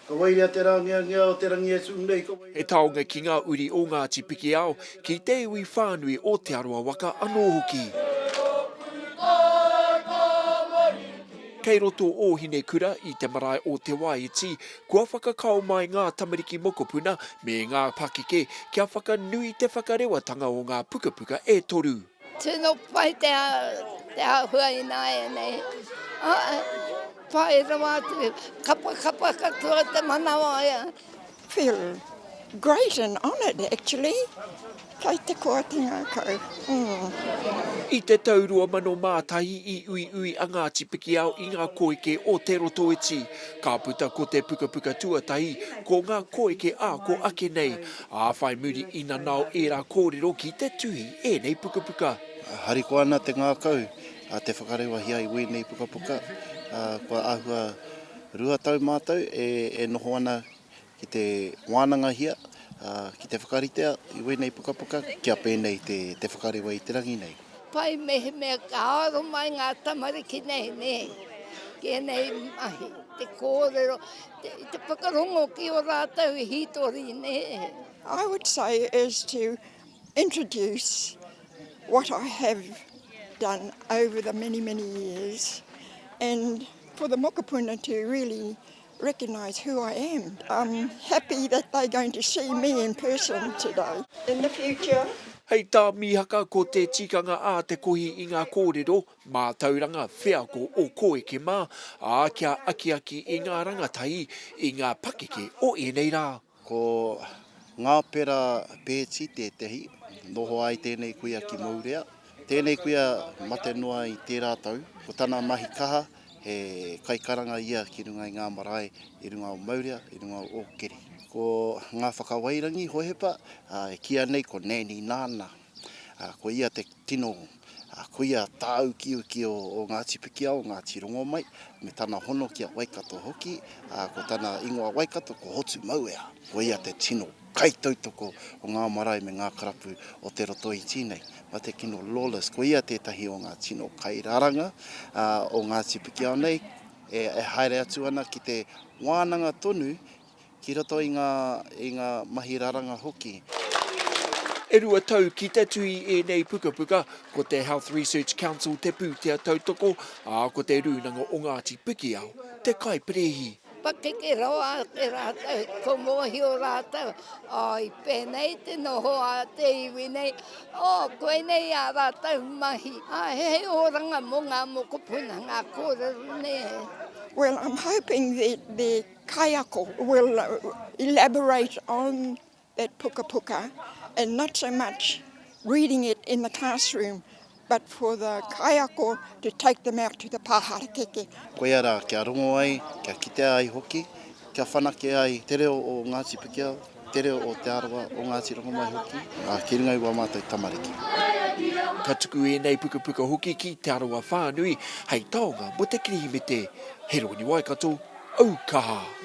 Ka waia te rāngiangea o te rangi e tū nei, ka waia. He taonga ki ngā uri o Ngāti Pikiao, ki te iwi whānui o Te Arawa waka anō hoki. Kei roto ō Hinekura i te marae o Te Waiiti, kua whakakao mai ngā tamariki mokopuna me ngā pakeke kia whakanui te whakarewatanga o ngā pukapuka e toru. Tino pai te ahua inaenei. Pai rawa atu. Kapa kapa katoa te manawa ia. Feel great and honoured actually. Pai te koatanga kau. I te tau 2001 i uiui a Ngāti Pikiao i ngā koeke o Te Rotoiti. Ka puta ko te pukapuka tuatahi ko Ngā Koeke Āko Ake Nei. Ā, whai muri i nanao ērā kōrero ki te tuhi ēnei pukapuka. Harikoa ana te ngākau a te whakarewahia i wēnei pukapuka. Kua āhua rua tau mātou e noho ana ki te wānangahia, ki te whakaritea i wēnei pukapuka kia pēnei te whakarewa i te rangi nei. Pai mehemea ka aro mai ngā tamariki nei, nē, ki ēnei mahi, te kōrero, te, te whakarongo ki o rātou hītori, nē. I would say is to introduce what I have done over the many, many years and for the mokopuna to really recognise who I am. I'm happy that they're going to see me in person today. In the future. Hei tā Mihaka ko te tikanga a te kohi i ngā kōrero mātauranga wheako o Kōeke mā, ā, kia akiaki i ngā rangatahi i ngā pakeke o ēnei rā. Ko Ngāpera Pēti tētehi, noho ai tēnei kuia ki Mourea. Tēnei kuia mate noa i tērā tau. Ko tana mahi kaha, he kaikaranga ia ki runga i ngā marae i runga o Mourea, i runga o Ōkeri. Ko Ngāwhakawairangi Hohepa, e kīa nei ko Nanny Nāna. Ko ia te tino Ā, koia tā ukiuki o, o Ngāti Pikiao, Ngāti Rongomai, me tana hono ki a Waikato hoki, ā, ko tana ingoa Waikato ko Hotu Mauea. Koia te tino kaitautoko o ngā marae me ngā karapu o Te Rotoiti nei. Mā te kino Lawless, koia tētahi o ngā tino kairaranga, ā, o Ngāti Pikiao nei, e, e haere atu ana ki te wānanga tonu ki roto i ngā, i ngā mahi raranga hoki. E rua tau ki te tū i ēnei pukapuka, ko te Health Research Council te pūtea tautoko, ā, ko te Rūnanga o Ngāti Pikiao te kaiperehi. Pakeke rawa ake rātou, ko mōhio rātou, ā, i pēnei te noho a te iwi nei, ō, koinei ā rātou mahi, ā, he oranga mō ngā mokopuna ngā kōrero nei. Well, I'm hoping that the kaiako will elaborate on that pukapuka and not so much reading it in the classroom but for the kaiako to take them out to the pa harakeke. Koia rā, kia rongo ai, kia kitea ai hoki, kia whanake ai te reo o Ngāti Pikiao. Te reo o Te Arawa, o Ngāti Rongomai hoki, ā, ki runga i wā mātou tamariki. Ka tuku ēnei pukapuka hoki ki Te Arawa whānui hei taonga mō te Kirihimete. Heroni Waikato, Au Kaha!